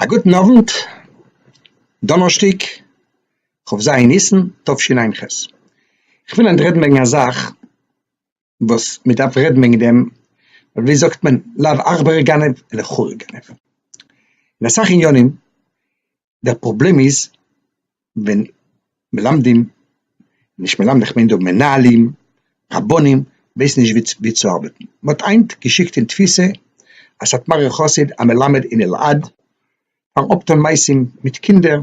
א גוטן אוונט, דאנערשטאג כ' ז' ניסן תשע ח, כ'וויל היינט רעדן וועגן א זאך וואס מ'דארף רעדן וועגן דעם, ווי זאגט מען, לאו עכברא גנב אלא חורא גנב, אין אסאך עניינים דער פראבלעם איז ווען מלמדים, נישט מלמדים איך מיין דא מנהלים, רבנים, ווייסן נישט ווי צו ארבעטן. מען האט היינט געשיקט אין תפיסה א סאטמארער חסיד א מלמד אין אלעד פארן אפטון מעשים מיט קינדער,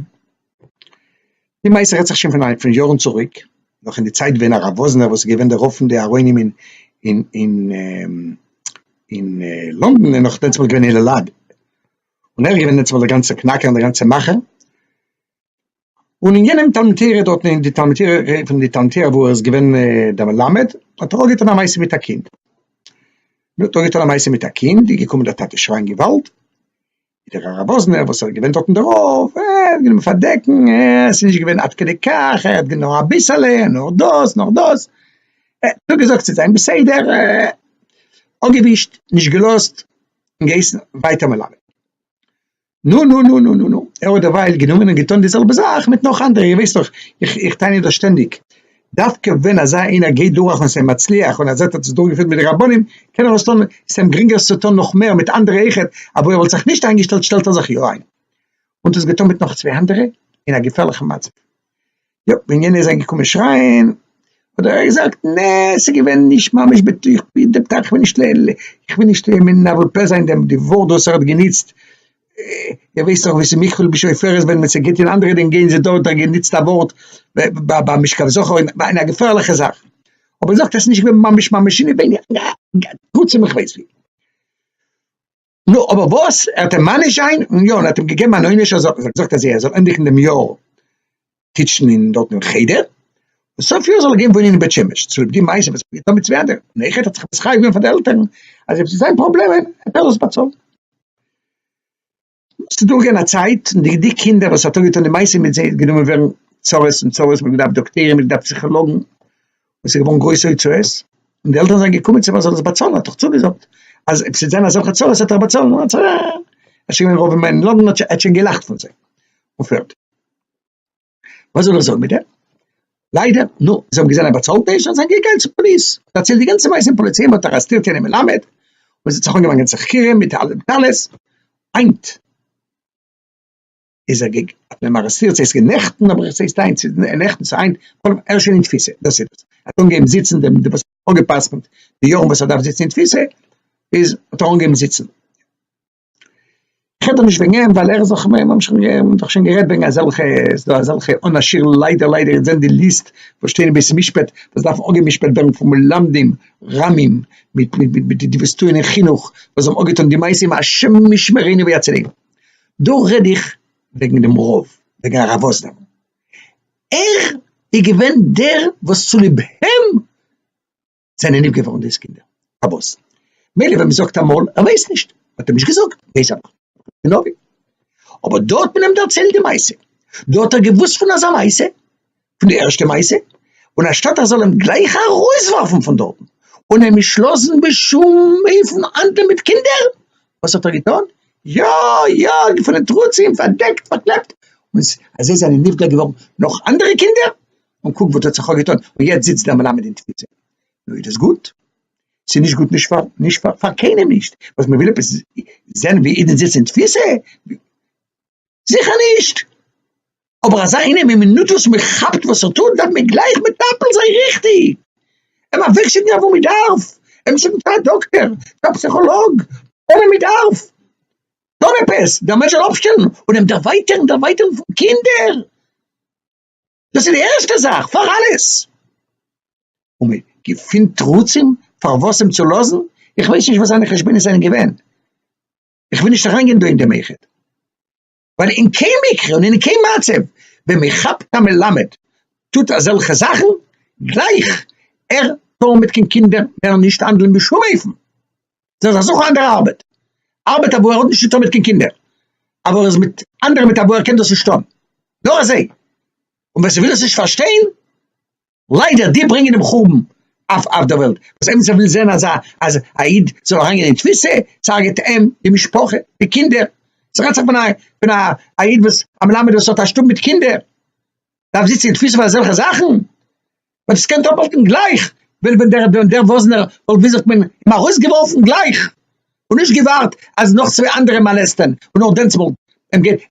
די מעשה רעדט זיך שוין פון יארן צוריק, נאך אין די צייט ווען הרב וואזנער וואס איז געווען דער רב פון די ארוינים אין אין אין לונדון איז נאך דענסמאל געווען אין אלעד. און ער איז געווען דערצו די גאנצע קנאקער און די גאנצע מאכער, און אין יענעם תלמוד תורה דארטן אין די תלמוד תורה פון די תלמוד תורה וואו ער איז געווען דער מלמד האט ער אויך געטון א מעשה מיט א קינד, נו האט ער געטון א מעשה מיט א קינד איז געקומען דער טאטע שרייען געוואלד, איז דער הרב וואזנער וואס איז געווען דארטן דער רב ער האט גענומען פארדעקן ער עס איז נישט געווען עד כדי כך ער האט געווען נאר אביסעלע נאר דאס נאר דאס, ער האט נאר געזאגט ס'איז זיין בסדר ער האט אפגעווישט נישט געלאזט און געהייסן ווייטער מלמד. נו נו נו נו נו נו, ער האט דערווייל גענומען און געטון די זעלבע זאך מיט נאך אנדערע, איר ווייסט דאך, איך איך טענה דאס שטענדיג, דווקא ווען אזא איינער גייט דורך און ס'אים מצליח און ער זעט ער האט זיך דורכגעפירט מיט די רבנים, קען ער עס טון, ס'איז אים גרינגער עס צו טון נאך מער מיט אנדערע אויכעט, א וואו ער וואלט זיך נישט איינגעשטעלט שטעלט ער זיך יא איין. און דאס געטון מיט נאך צוויי אנדערע אין א געפערליכן מצב. יא, ווען יענער איז אנגעקומען שרייען האט דער רבי געזאגט, נע, ס'איז געווען נישט ממש בתוך די פתח, איך וויל נישט איך וויל נישט מנבל פה זיין דעם די ווארט וואס ער האט גענוצט, איר ווייסט דאך וואס איז מקבל בשופרות ווען מען ס'געבט אין אנדערע דין געבן זיי דארט האט ער גענוצט א ווארט ביי משכב זכור אין א געפערליכע זאך, אבער ער זאגט אז ס'איז נישט געווען ממש ממש אינעווייניג, טראצדעם איך ווייס ווי. נו, אבער וואס? ער האט אים מעניש זיין? און יא, און ער האט אים געגעבן אן עונש אז ער האט געזאגט אז ער זאל ענדיגן דעם יאר טיטשן אין דארט אין חדר, און סוף יאר זאל ער גיין וואוינען אין בית שמש, צוליב די מעשה וואס ער האט געטון מיט צוויי אנדערע, און אויכעט האט זיך מתחייב געווען פאר די עלטערן אז אויב ס'איז זיין פראבלעמען וועט ער דאס באצאלן. נו, ס'איז דורכגעגאנגען א צייט, און די די קינדער וואס ער האט אויפגעטון די מעשה מיט זיי איז גענומען ווערן צרות און צרות, מ'האט געדארפט דאקטוירים, מ'האט געדארפט פסיכאלאגן, און ס'איז געווארן גרויסע הוצאות, און די עלטערן זענען געקומען צו אים ער זאל דאס באצאלן, ער האט דאך צוגעזאגט אז עס וועט זיין אזעלכע צרות וועט ער באצאלן, ער איז שוין געווען רוב ימיו אין לאנדאן, ער האט שוין געלאכט פון זיי, און פערטיג. וואס זאל איך זאגן מיט דעם? ליידער, נו, זיי האבן געזען ער באצאלט נישט, זענען זיי געגאנגען צום פאליס, דערציילט די גאנצע מעשה אין פאליס, און מען האט ארעסטירט יענעם מלמד, און עס האט זיך אנגעפאנגען צו חקירה מיט אלע דעטאלעס, היינט. איז ער געג האט מען אים ארעסטירט ס'הייסט געווען נעכטן אבער עס הייסט היינט ס'איז נעכטן ס'איז היינט בכל אופן ער איז שוין אין תפיסה דאס איז דאס האט אנגעהויבן זיצן דעם די וואס האט אפגע'פסק'נט די יארן וואס ער דארף זיצן אין תפיסה איז האט ער אנגעהויבן זיצן כ'רעד דאך נישט וועגן אים ווייל ער איז דאך מ'האמער שוין גערעדט מ'האמער דאך שוין גערעדט וועגן אזעלכע ס'איז דא אזעלכע אן א שיעור ליידער ליידער אונז זעהן די ליסט וואס שטייען אין בית המשפט וואס דארפן אפגע'משפט ווערן פון מלמדים רמים מיט מיט מיט מיט די וואס טוען אין חינוך וואס האבן אפגעטון די מעשים השם ישמרינו ויצילנו. דא רעד איך וועגן דעם רב, וועגן הרב וואזנער, ער איז געווען דער וואס צוליב אים זענען נפגע געווארן דאס קינדער, אבות, מילא ווען מען זאגט אמאל ער ווייסט נישט, האט ער נישט געזאגט, ווייס ער נאך, אבער דא האט מען אים דערציילט די מעשה, דא האט ער געוואוסט פון אזא מעשה, פון די ערשטע מעשה, און אנשטאט ער זאל אים גלייך ארויסווארפן פון דארטן און אים נישט לאזן בשום אופן האנדלן מיט קינדער, וואס האט ער געטון? יא יא געפונען תרוצים, פארדעקט, פארקלעפט, און אזוי זענען נפגע געווארן נאך אנדערע קינדער, און קוק וואס האט זיך אויפגעטון, און יעצט זיצט דער מלמד אין תפיסה. נו איז דאס גוט? ס'איז נישט גוט נישט פאר נישט פאר פאר קיינעם נישט, וואס מ'וויל עפעס זען ווי אידן זיצן אין תפיסה? זיכער נישט! אבער אזא איינעם אין מינוט וואס מען כאפט וואס ער טוט דארף מען גלייך מטפל זיין ריכטיג, אים אוועקשיקן אוואו מען דארף, אים שיקן צו א דאקטער, צו א פסיכאלאג, אדער מען דארף טון עפעס דער מענטש זאל אפשטעלן און אים דערווייטערן דערווייטערן פון קינדער, דאס איז די ערשטע זאך פאר אלעס, און מען געפינט תירוצים פארוואס אים צו לאזן, איך ווייס נישט וואס זיינע חשבונות זענען געווען. איך וויל נישט אריינגיין דא אין דעם איחוד, ווייל אין קיין מקרה און אין קיין מצב ווען מען כאפט א מלמד טוט אזעלכע זאכן, גלייך ער טאר מיט קיין קינדער מער נישט האנדלען בשום אופן, זיי זיך זוכן אנדערע ארבעט, ארבעט אוואו ער האט נישט צוטון מיט קיין קינדער, אוואו ער איז מיט אנדערע מיט אוואו ער קען דאס נישט טון, נאר אזוי, און ווער ס'וויל עס נישט פארשטיין, ליידער די ברענגען דעם חורבן אויף אויף דער וועלט, וואס עמיצער וויל זען אז א אז א איד זאל אריין גיין אין תפיסה, ס'הרג'ט אים, די משפחה, די קינדער, ס'רעדט זיך פון א פון א א איד וואס א מלמד וואס האט א שטוב מיט קינדער, דארף זיצן אין תפיסה פאר אזעלכע זאכן? וועט עס קענט אפהאלטן גלייך ווען ווען דער וואזנער וואלט וויל זיך מען אים ארויסגעווארפן גלייך. און נישט געווארט אז נאך צוויי אנדערע מאלעסטען און נאר דענסמאל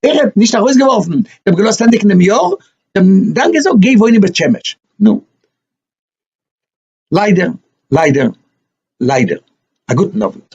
ער האט נישט ארויסגעווארפן דעם געלאזט ענדיגן דעם יאר דאן געזאגט גיי וואוין אין בית שמש נו ליידער ליידער ליידער א גוטן אווענט.